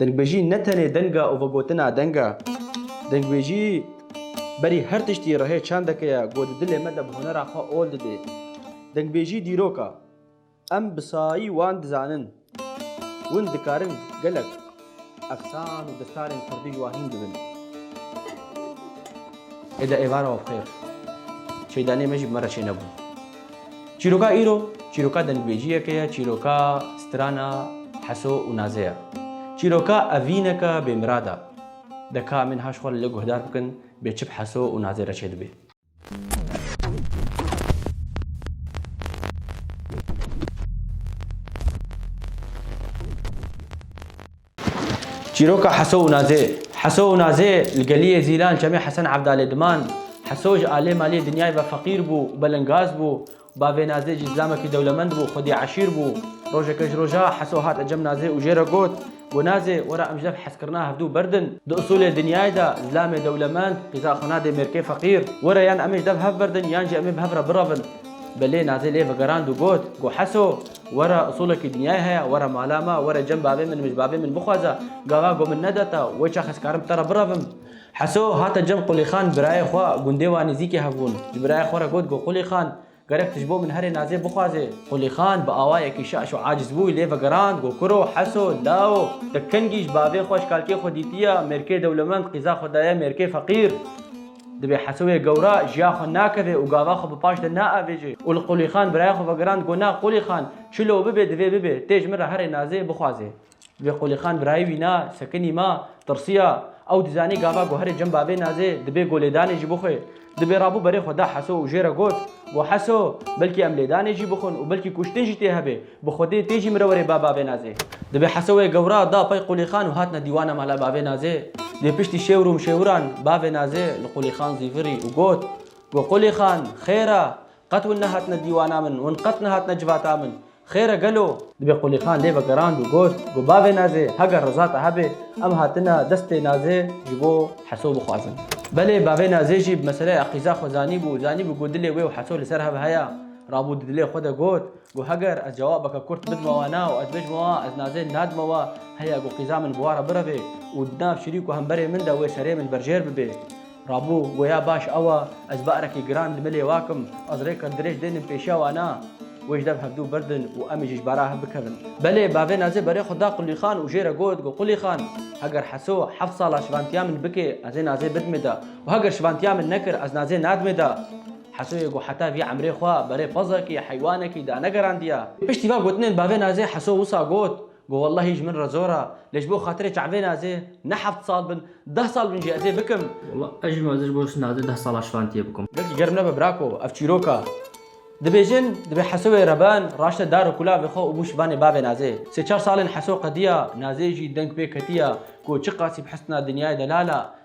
Dengbêjî ne tenê denga û vegotina deng e. Dengbêjî berî her tiştî rihê çandeke ye ku di dilê me de bi hunera xwe ol didê. Dengbêjî dîrok e. Em bi sayî wan dizanin. Win dikarin gelek efsan û destarên kurdî ji wan hîn bibin. Êdî êvara we bi xêr. Çêdanê me jî bi me re çênebû. Çîroka îro çîroka dengvejiyeke ye, çîroka strana heso û nazê ye. Çîroka evîneke bêmirad e. Deka min haş xwe li guhdar bikin bê çi bi heso û nazê re çêdibê. Çîroka Heso û Nazê Heso û Nazê li geliyê Zîlan Çemê Hesen Evdalê diman. Heso ji aliyê maliyê dinyayê ve feqîr bû û belingaz bû. Bavê Nazê jî zilamekî dewlemend bû, xwedî eşîr bû. Rojeke ji roja Heso hat ecem Nazê û jê re got, Gu Nazê, were em ji dev hezkirina hevdu berdin. Di usulê dinyayê de zilamê dewlemend qîza xwe nadê mêrkê feqîr. Were yan em ê ji dev hev berdin yan jî em ê bi hev re birevin. Belê Nazê lê vegerand û got, Gu Heso, Were usolekî dinyayê heye, were mala me, were cem bavê min, mij bavê min bixwaze, gaga ku min neda te, wê çax ez karim bi te re birevim. Heso hate cem Qulîxan birayê xwe, gundê wan nêzîkê hev bûn, ji birayê xwe re got ku Qulîxan, gerek tu ji bo min herê nazê bixwazê. Qulîxan bi awayekî şaş û aciz bû lê vegerand ku kuro, Heso, lawo, te kengî ji bavê xwe ji kalkê xwe dîtiye, mêrkê dewlemend qîza xwe daye mêrkê feqîr. Divê Hesewê gewra jiya xwe nakeve û gava xwe bi paş de naavêje û li Qulîxan biraya xwe vegirand got na Qulîxan çilo bibe divê bibe tê ji min re herê nazê bixwaze. Divê Qulîxan birayê wî na sekinî ma tirsiya ew dizanî gava got herê cem bavê nazê dibê got lêdanê jî bixwe. Dibê rabû berê xwe da Heso û jê re got, Got Heso belkî em lêdanê jî bixwin û belkî kuştin jî tê hebe. Bi Xwedê tê jî mire were ba bavê Nazê. Dibe Heso wê gewra da pey Qulîxan û hatine dîwana mala bavê Nazê. Dê piştî şêwir û mşêwiran bavê Nazê li Qulîxan zîvirî û got, Go Qulîxan, xêr a? Qet win nehatine dîwana min, win qet nehatine civata min. Xêr e gelo? Dibe Qulîxan lê vegerand û got, Go bavê Nazê, heger riza te hebe, em hatine destê Nazê ji bo Heso bixwazin. Belê bavê Nazê jî bi meseleya qîza xwe zanîbû, zanîbû ku dilê wê û Heso li ser hev heye. Rabû di dilê xwe de got, Ku heger ez cewabeke kurt bidme we na û ez bijme we, ez nazê nadime we, heye ku qîza min bi we re bireve û di nav şirî ku hemberê min de wê serê min berjêr bibe. Rabû, Goya baş ew e, ez ba'rekî giran li milê we kim, ez rêka dirêj dênim pêşiya we na. Wê ji dev hevdu birdin û em ê jî ji bara hev bikevin. Belê, bavê nazê berê xwe da Qulî Xan û jê re got ku Qulî Xan, heger Heso heft sala şivantiya min bike, ez ê nazê bidime de û heger şivantiya min nekir, ez nazê nadime de. Hesoyê ku heta vî emrê xwe berê pezekî, heywanekî, de negerandiya. Piştî van gotinên bavê Nazê Heso wisa got ku wellahî ji min re zor e, lê ji bo xatirê çavê Nazê ne heft sal bin, deh sal bin jî ez ê bikim. Wallah ez jî ma ez ji bo Nazê deh sala şivantiye bikim. Gelkî germ nebe brako ev çîrok e. Dibêjin dibê Hesoyê reben raşte dar û kulavê xwe û bû şivanê bavê Nazê. Sê çar salên Heso qediya, Nazê jî deng pê ketiya ku çiqasî bi hisna dinyayê delal e.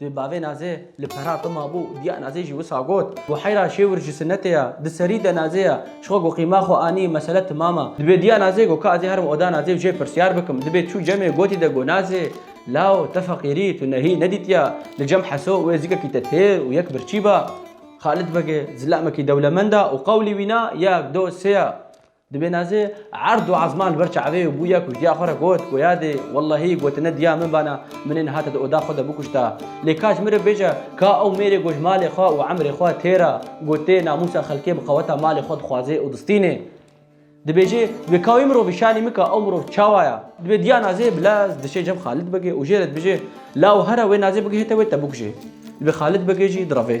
Di bavê Nazê li pera te mabû û diya Nazê jî wisa got, Buheyra Şêwir ji Sinetê ye, di serî de Nazê ye. Ji xwe got qîma xwe anî, mesele timam e. Dibê diya Nazê got ka ez ê herim oda Nazê û jê pirsyar bikim. Dibê çû cemê gotî de got Nazê, Law, te feqîrî, tu nehî nedîtiya, li cem Heso û êzikekî te têr û yek birçî ba. Xalid Begê zilamekî dewlemend e û qewlî wî na, yek, do, sê ye. Dibê nezê erd û ezman li ber çavê û bûye ku ji diya xwe re got ku yadê wellehî gotine diya min bana min ê nihate di oda xwe de bikuşta. Lê ka ji min re bêje ka ew mêrê ku ji malê xwe û emrê xwe tê re gotê namûsa xelkê bi qeweta malê xwe dixwaze û distîne. Dibêje wê ka wê mirovî şanî mika ew mirov çawa ye. Dibê diya nezê bi lez dişê cem Xalid bike û jê re dibije la û here wê nezê bigihite wê te bikuje. Dibê Xalid bike jî direve.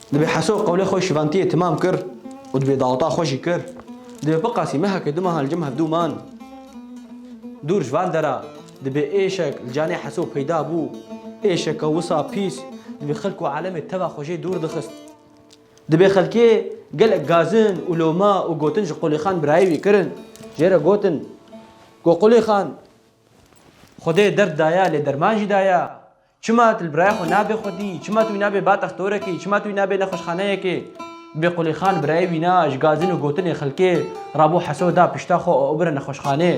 Dibê Heso qewlê xwe şivantiyê timam kir û dibê daweta xwe jî kir. Dibê biqasî mehekê du mehan li cem hevdû man. Dûr ji van dera dibê êşek li canê Heso peyda bû. Êşeke wisa pîs dibê xelk û alemê teva xwe jê dûr dixist. Dibê xelkê gelek gazin û loma û gotin ji Qulêxan birayê wî kirin. Jê re gotin ku Qulêxan Xwedê derd daye lê derman jî daye. Çima tu li birayê xwe nabê xwedî? Çima tu wî nabê ba textorekî? Çima tu wî nabê nexweşxaneyekê? Bê Qulîxan birayê wî na ji gazin û gotinê xelkê ra bo Heso da pişta xwe û ew bire nexweşxanê.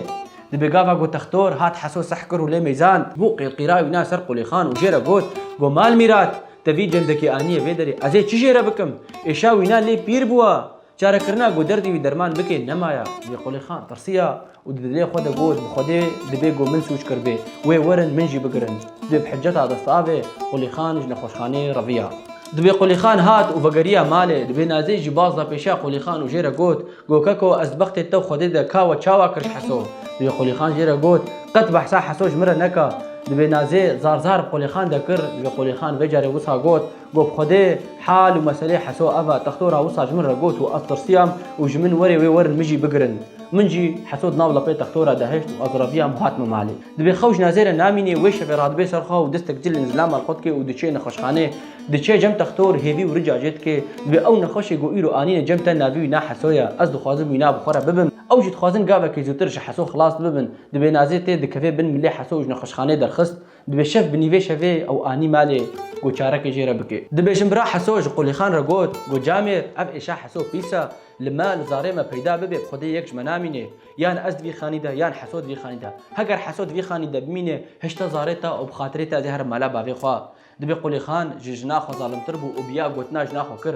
Di bê gava got textor, hat Heso seh kir û lê mêzand. Bo qîrqîra wî na ser Qulîxan û jê re got, Go Malmîrat, te vî cendekê aniye vê derê, ez ê çi jê re bikim? Êşa wî na lê pîr bûa. Çarekirina ku derdê wî derman bike nemaya. Lê Qulixan tirsiya û di dilê xwe de got bi Xwedê dibê ku min sûc kiribê wê werin min jî bigirin. Dibê bi hiceta destavê Qulixan ji nexweşxaneyê reviya. Dibê Qulixan hat û vegeriya malê. Dibê Nazê jî baz da pêşiya Qulixan û jê re got, Go keko ez bi bextê te û Xwedê de ka we çawa kir ji Heso? Dibê Qulixan jê re got, Qet behsa Heso ji min re neka. Dibê Nazê zar zar bi Qulixan de kir. Dibê Qulixan vê carê wisa got, Got bi Xwedê, Hal û meselê Heso ev e, Textor a wisa ji min re got û ez tirsiyam û ji min werê wê werin min jî bigirin. Min jî Heso di nav lapê Textora de hişt û ez reviyam û hatime malê. Divê xew ji nezêre namînê wê şevê radibê ser xwe û distek cilên zilam li xwe dike û diçê nexweşxanê. Diçe cem Textor hêvî û rica jê dike. Divê ew nexweşê ku îro anîne cem te navê wî na Heso ye. Ez dixwazim wî na bi xwe re bibim. Ew jî dixwazin gavekê zûtir ji Heso xilas bibin. Divê nazê tê dikeve bin milê Heso û ji nexweşxanê derxist. Dibê şev bi nîvê şevê ew anî malê ku çarekê jê re bike. Dibê jinbira Heso ji Qulîxan re got ku camêr ev êşa Heso pîs e, li me, li zarê me peyda bibe bi xwedê yek ji me namîne. Yan ez di vî xanî de yan Heso di vî xanî de. Heger Heso di vî xanî de bimîne hişta zarê te û bi xatirê te ez ê herim mala bavê xwe. Dibê Qulîxan ji jina xwe zalimtir bû û bi ya gotina jina xwe kir.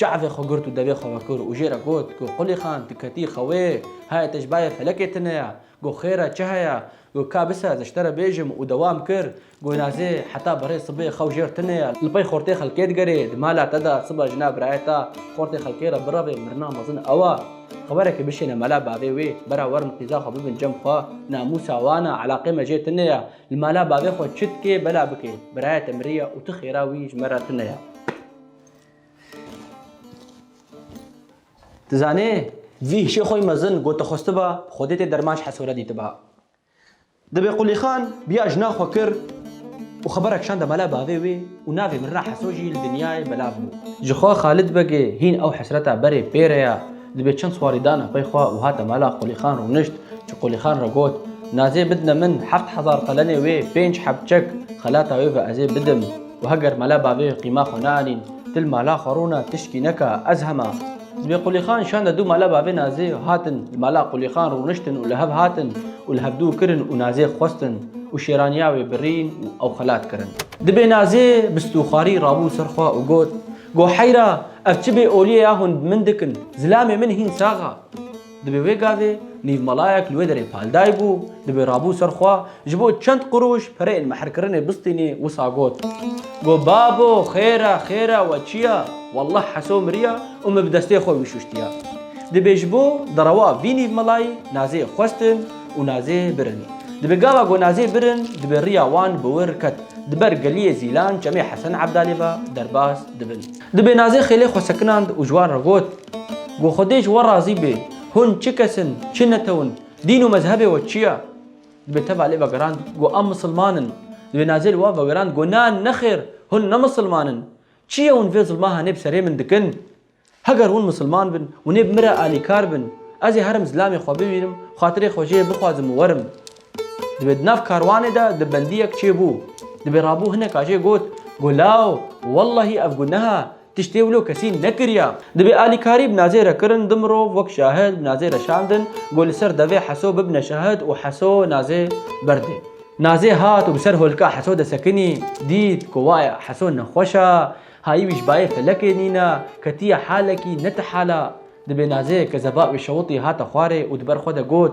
Çavê xwe girt û devê xwe vekir û jê re got, Go Qulî Xan, tu ketî xewê? Haya te ji bayê felekê tune ye? Go Xêr e, çi heye? Go Ka bise ez ji te re bêjim û dewam kir, Go Nazê, heta berê sibê xew jêr tune ye, li pey xortê xelkê digerê, di mala te de siba jina birayê te xortê xelkê re birevê, mirina mezin ew e. Xeberekê bişêne mala bavê wê, bera werin qîza xwe bibin cem xwe, namûsa wan e, eleqê me jê tune ye, li mala bavê xwe çi dikê bela bikê, birayê te miriye û tu xêra wî ji me re tune ye. Tu zanê, vî hişê xwe mezin got te xwestiba, bi xwedê tê derman ji hesore dîtiba. Dibê Qulîxan biya jina xwe kir û xebera kişande mala bavê wê û navê mirina Heso jî li dinyayê belav bû. Jixwe Xalid Begê hîn ew hesreta berê pê re ya. Dibê çend swarî dana pey xwe û hate mala Qulîxan rûnişt. Ji Qulîxan re got, Nazê bidine min heft hezar qelenê wê, pênc heb çek, xelata wê ve ez ê bidim. û heger mala bavê qîma xwe neanîn, dil mala xwe rûna tişkî neka, ez hema. Zibê Qulîxan şanda dû mala bavê Nazê û hatin li mala Qulîxan rûniştin û li hev hatin û li hev dû kirin û Nazê xwestin û şêraniya wê birîn û ew xelat kirin. Dibê Nazê bi stûxarî rabû ser xwe û got, Go heyra, ev çi bê olîye ya hûn bi min dikin, zilamê min hîn sax a. Dibê wê gavê nîvmalayek li wê derê palday bû, dibê rabû ser xwe, ji bo çend qurûş pereyên mehrkirinê bistînê, wisa got, Got babo, xêr e, xêr e, we çi ye? Wallah Heso miriye û min bi destê xwe wî şuştiye. Dibê ji bo derewa vî nîvmalayî nazê xwestin û nazê birin. Dibê gava got nazê birin, dibê riya wan bi wir ket, di ber geliyê Zîlan, Çemê Hesen Ebdalê ve derbas dibin. Di bênazê xêlê xwe sekinand û ji wan re got, Ku Xwedê ji we razî be, hûn çi kes in, çi netew in, dîn û mezhebê we çi ye? Dibê teva lê vegerand ku em misilman in. Di bênazê li wan vegerand ku na, nexêr, hûn ne misilman in. Çi ye hûn vê zilma hanê bi serê min dikin? Heger hûn misilman bin û nê bi min re alîkar bin, ez ê herim zilamê xwe bibînim, xatirê xwe jê bixwazim û werim. Dibê di nav karwanê de di bendiyek çêbû. Dibê rabû hineka jê got, Gulaw, wellahî ev guneha, tiştê wilo kesî nekiriya. Dibê alîkarî bi nazê re kirin, di mirov wek şahid bi nazê re şandin ku li ser devê Heso bibine şahid û Heso nazê berdê. Nazê hat û bi ser holika Heso de sekinî, dît ku waya Heso nexweş a, hayî wî ji bayê felekê nîna, ketiye halekî ne ti hala. Dibê nazê ke zeba wê şewitî hate xwarê û di ber xwe de got,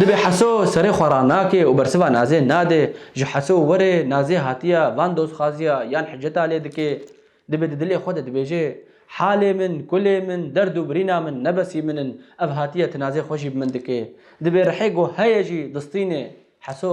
Dibê Heso serê xwe ranake û bersiva Nazê nade. Ji Heso were Nazê hatiye van dozxaziya yan hiceta lê dike. Dibê di dilê xwe de dibêje, Halê min, kulê min, derd û birîna min nebesî min in. Ev hatiye tinazê xwe jî bi min dike. Dibê rihê ku heye jî distîne. Heso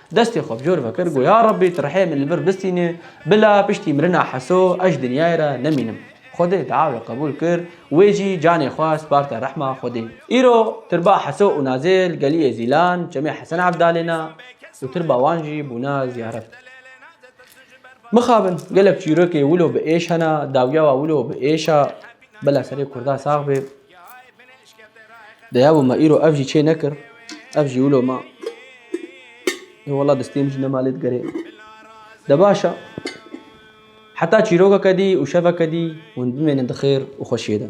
Destê xwe bi cor ve kir, got, Ya Rabbî tu rihê min li vir bistînê, bila piştî mirina Heso ez ji dinyayê re nemînim. Xwedê diawê qebûl kir, wê jî canê xwe sparte rehma Xwedê. Îro tirba Heso û Nazê li geliyê Zîlan çemê Hesen Evdalê ne û tirba wan jî bûne ziyaret. Mixabin gelek çîrokê wilo bi êş hene, dawiyawa wilo bi êş e, bila serê kurda sax bê. Deya bû me îro ev jî çê nekir. Ev jî wilo ma. Ê wela destê min jî nema lê digerê. De baş e. Heta çîrokeke dî û şeveke dî hûn bimênin di xêr û xweşiyê de.